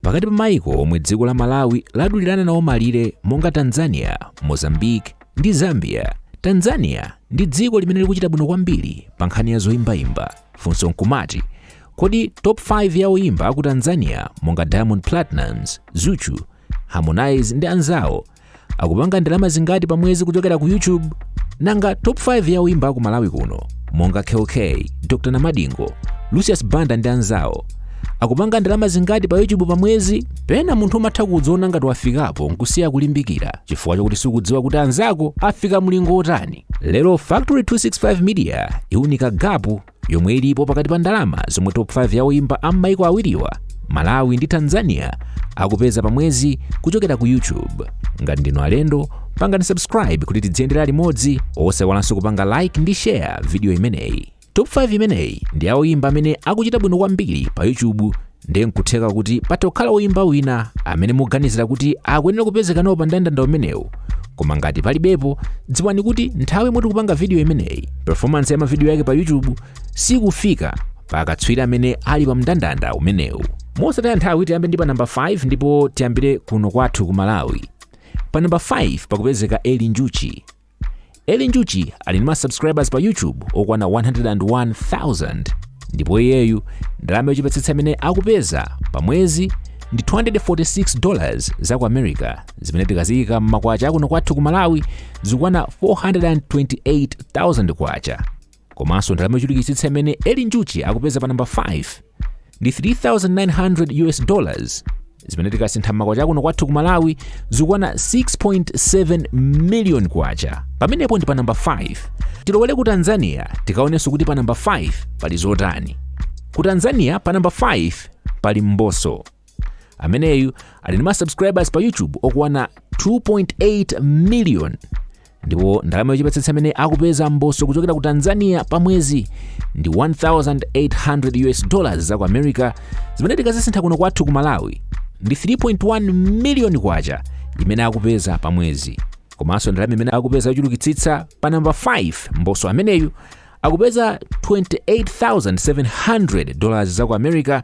pakati pa maiko omwe dziko la malawi ladulirana nawo malire monga tanzania mozambique ndi zambia tanzania ndi dziko limene likuchita bwino kwambiri pa nkhani ya zoyimbayimba funso nkumati kodi top 5 ya oyimba aku tanzania monga diamond platnumz zuchu harmonize ndi anzawo akupanga ndalama zingati pa mwezi kuchokera ku youtube nanga top 5 ya oyimba aku malawi kuno monga kell kay dr namadingo lucius banda ndi anzawo akupanga ndalama zingati pa youtube pa mwezi pena munthu umatha kudziona ngati wafikapo nkusiya kulimbikira chifukwa chakuti sukudziwa kuti anzako afika mlingo otani lero factory 265 media iunika gapu yomwe ilipo pakati pa ndalama zomwe top 5 ya oyimba a m'maiko awiriwa malawi ndi tanzania akupeza pa mwezi kuchokera ku youtube ngati ndinu alendo pangani subscribe kuti tidziyendera limodzi osayiwalanso kupanga like ndi share video imeneyi top 5 imeneyi ndi ya oyimba amene akuchita bwino kwambiri pa youtube ndiye nkutheka kuti patha kukhala oyimba wina amene muganizira kuti akuyenera kupezeka nawo pa mndandanda umenewu koma ngati palibepo dziwani kuti nthawi yomwe tikupanga vidiyo imeneyi performance ya mavidiyo yake pa youtube sikufika pa akatswiri amene ali pa mndandanda umenewu mosataya nthawi tiyambe ndi pa namba 5 ndipo tiyambire kuno kwathu ku malawi pa namba 5 pakupezeka eli njuchi eli njuchi ali ndi ma subscribers pa youtube okwana 101000 ndipo iyeyu ndalama yochepetsetsa imene akupeza pa mwezi ndi 246 dollars za ku america zimene tikaziyika m'makwacha akuno kwathu ku malawi zikukwana 428000 kwacha komanso ndalama yochulukitsitsa imene eli njuchi akupeza pa namba 5 ndi 3900 us dollars zimene tikasintha m'makwacha akuno kwathu ku malawi zikukwana 6.7 million kwacha pamenepo ndi pa namba 5 tilowere ku tanzania tikaonenso kuti pa namba 5 pali zotani ku tanzania pa namba 5 pali mbosso ameneyu ali ndi ma subscribers pa youtube okwana 2.8 million ndipo ndalama yochepetsetsa imene akupeza mbosso kuchokera ku tanzania pa mwezi ndi 1800 us dollars za ku america zimene tikazisintha kuno kwathu ku malawi ndi 3.1 miliyoni kwacha imene akupeza pa mwezi komanso ndalama imene akupeza yochulukitsitsa pa namba 5 mbosso ameneyu akupeza 28700 dollars za ku america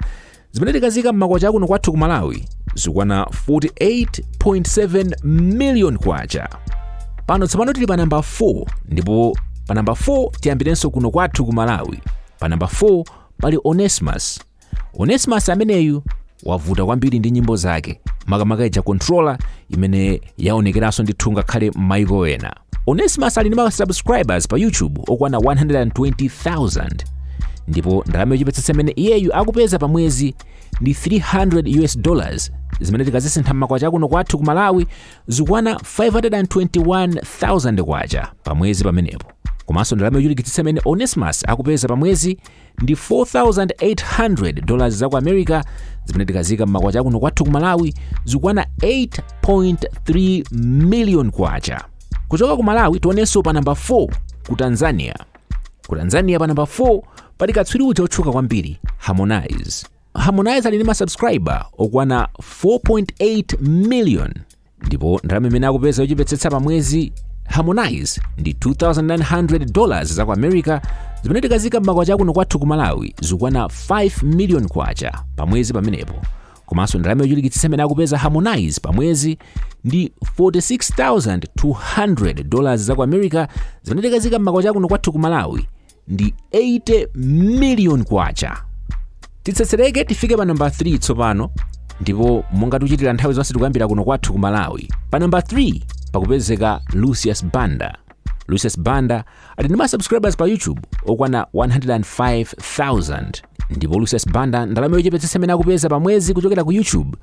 Zimene tikaziika m'makwacha akuno kwathu ku Malawi zikukwana 48.7 million kwacha. Pano tsopano tili pa namba 4 ndipo pa namba 4 tiyambirenso kuno kwathu ku Malawi. Pa namba 4 pali Onesimus. Onesimus ameneyu wavuta kwambiri ndi nyimbo zake makamaka ija controller imene yaonekeranso ndithu ngakhale m'mayiko ena. Onesimus ali ndi ma subscribers pa YouTube okwana 120,000 ndipo ndalama yochepetsetsa imene iyeyu akupeza pa mwezi ndi 300 US dollars zimene tikazisintha m'makwacha akuno kwathu ku Malawi zikukwana 521,000 kwacha pa mwezi pamenepo komanso ndalama yochulukitsitsa imene Onesimus akupeza pa mwezi ndi 4800 dollars za ku america zimene tikaziika m'makwacha akuno kwathu ku malawi zikukwana 8.3 million kwacha kuchoka ku malawi tionenso pa namba 4 ku tanzania ku tanzania pa namba 4 pali katswiri uja otchuka kwambiri harmonize harmonize ali ndi masubscriber okwana 4.8 million ndipo ndalama imene akupeza yochepetsetsa pa mwezi harmonize ndi 2900 dollars za ku america zimene tikaziika m'makwacha akuno kwathu ku malawi zikukwana 5 million kwacha pa mwezi pamenepo komanso ndalama yochulukitsitsa imene akupeza harmonize pa mwezi ndi 46200 dollars za ku america zimene tikaziika m'makwacha akuno kwathu ku malawi ndi 80 miliyoni kwacha titsetsereke tifike pa namba 3 tsopano ndipo monga tikuchitira nthawi zonse tikuyambira kuno kwathu ku malawi pa namba 3 pakupezeka lucius banda lucius banda ali ndi ma subscribers pa youtube okwana 105000 ndipo lucius banda ndalama yochepetsetsa imene akupeza pa mwezi kuchokera ku youtube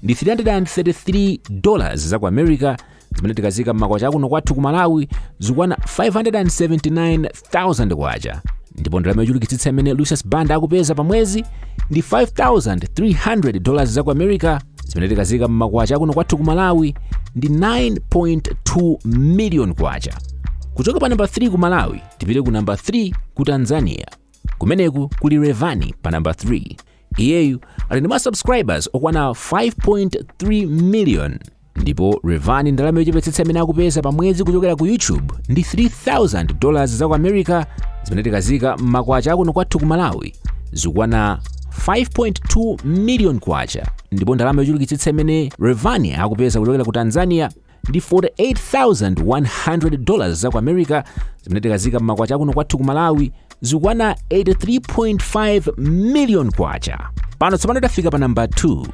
ndi 333 dollars za ku america zimene tikaziika m'makwacha akuno kwathu ku malawi zikukwana 579000 kwacha ndipo ndalama yochulukitsitsa imene lucius banda akupeza pa mwezi ndi 5300 dollars za ku america zimene tikaziika m'makwacha akuno kwathu ku malawi ndi 9.2 million kwacha kuchoka pa namba 3 ku malawi tipite ku namba 3 ku tanzania kumeneku kuli rayvanny pa namba 3 iyeyu ali ndi ma subscribers okwana 5.3 million ndipo Rayvanny ndalama yochepetsetsa imene akupeza pa mwezi kuchokera ku YouTube ndi 3000 dollars za ku America zimene tikaziika m'makwacha akuno kwathu ku Malawi zikukwana 5.2 million kwacha ndipo ndalama yochulukitsitsa imene Rayvanny akupeza kuchokera ku Tanzania ndi 48,100 dollars za ku america zimene tikaziika m'makwacha akuno kwathu ku malawi zikukwana 83.5 million kwacha pano tsopano tafika pa namba 2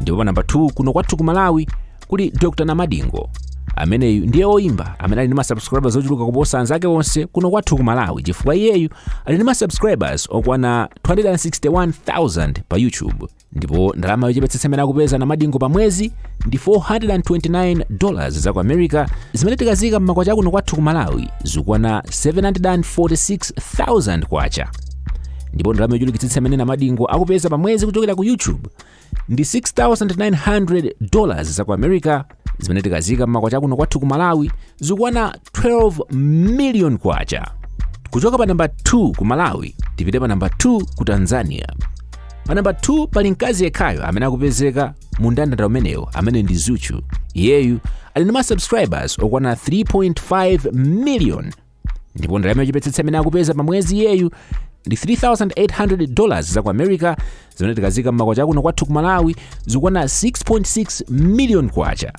ndipo pa namba 2 kuno kwathu ku malawi kuli dr namadingo ameneyu ndiye oyimba amene ali ndi masubscribers ochuluka kuposa anzake onse kuno kwathu ku malawi chifukwa iyeyu ali ndi masubscribers okwana 261,000 pa youtube ndipo ndalama yochepetsetsa imene akupeza namadingo pa mwezi ndi 429 dollars za ku america zimene tikaziika m'makwacha akuno kwathu ku malawi zikukwana 746000 kwacha ndipo ndalama yochulukitsitsa imene namadingo akupeza pa mwezi kuchokera ku youtube ndi 6900 dollars za ku america zimene tikaziika m'makwacha akuno kwathu ku malawi zikukwana 12 million kwacha kuchoka pa namba 2 ku malawi tipite pa namba 2 ku tanzania pa namba 2 pali mkazi yekhayo amene akupezeka mu mndandanda umenewo amene ndi zuchu iyeyu ali ndi masubscribers okwana 3.5 million ndipo ndalama yochepetsetsa imene akupeza pa mwezi iyeyu ndi 3800 dollars za ku america zimene tikaziika m'makwacha akuno kwathu ku malawi zikukwana 6.6 million kwacha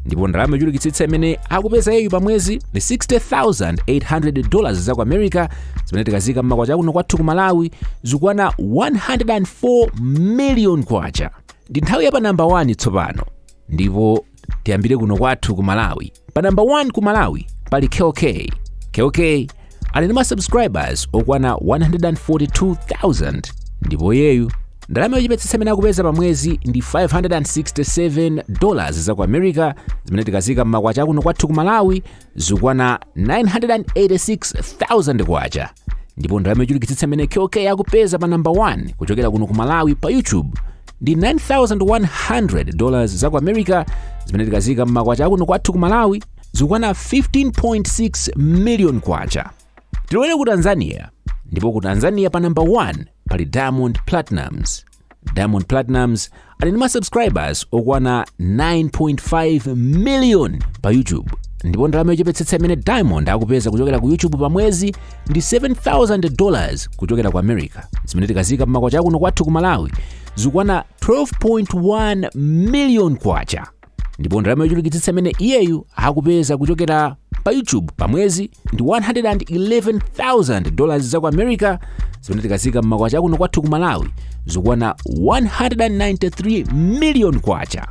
ndipo ndalama yochulukitsitsa imene akupeza iyeyu pa mwezi ndi 60800 dollars za ku america zimene tikaziika m'makwacha akuno kwathu ku malawi zikukwana 104 million kwacha ndi nthawi ya pa namba 1 tsopano ndipo tiyambire kuno kwathu ku malawi pa namba 1 ku malawi pali kell kay kell kay ali ndi ma subscribers okwana 142000 ndipo iyeyu ndalama yochepetsetsa imene akupeza pa mwezi ndi 567 dollars za ku america zimene tikaziika mmakwacha akuno kwathu ku malawi zikukwana 986,000 kwacha ndipo ndalama yochulukitsitsa imene kell kay akupeza pa namba 1 kuchokera kuno ku malawi pa youtube ndi 9100 dollars za ku america zimene tikaziika mmakwacha akuno kwathu ku malawi zikukwana 15.6 million kwacha tilowere ku tanzania ndipo ku tanzania pa namba 1 pali diamond platnumz diamond platnumz ali ndi ma subscribers okwana 9.5 million pa youtube ndipo ndalama yochepetsetsa imene diamond akupeza kuchokera ku youtube pa mwezi ndi 7000 dollars kuchokera ku america zimene tikaziika mmakwacha akuno kwathu ku malawi zikukwana 12.1 million kwacha ndipo ndalama yochulukitsitsa imene iyeyu akupeza kuchokera pa youtube pa mwezi ndi 111,000 dollars za ku america zimene tikaziika mmakwacha akuno kwathu ku malawi zikukwana 193 million kwacha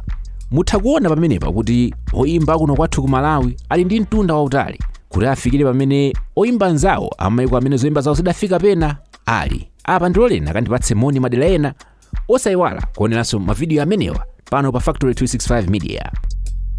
mutha kuona pamenepa kuti oyimba akuno kwathu ku malawi ali ndi mtunda wautali kuti afikire pamene oyimba anzawo amayiko amene zoyimba zawo zidafika pena ali apa ndiloleni akandipatse moni madera ena osaiwala kuoneranso mavidiyo amenewa pano pa factory 365 media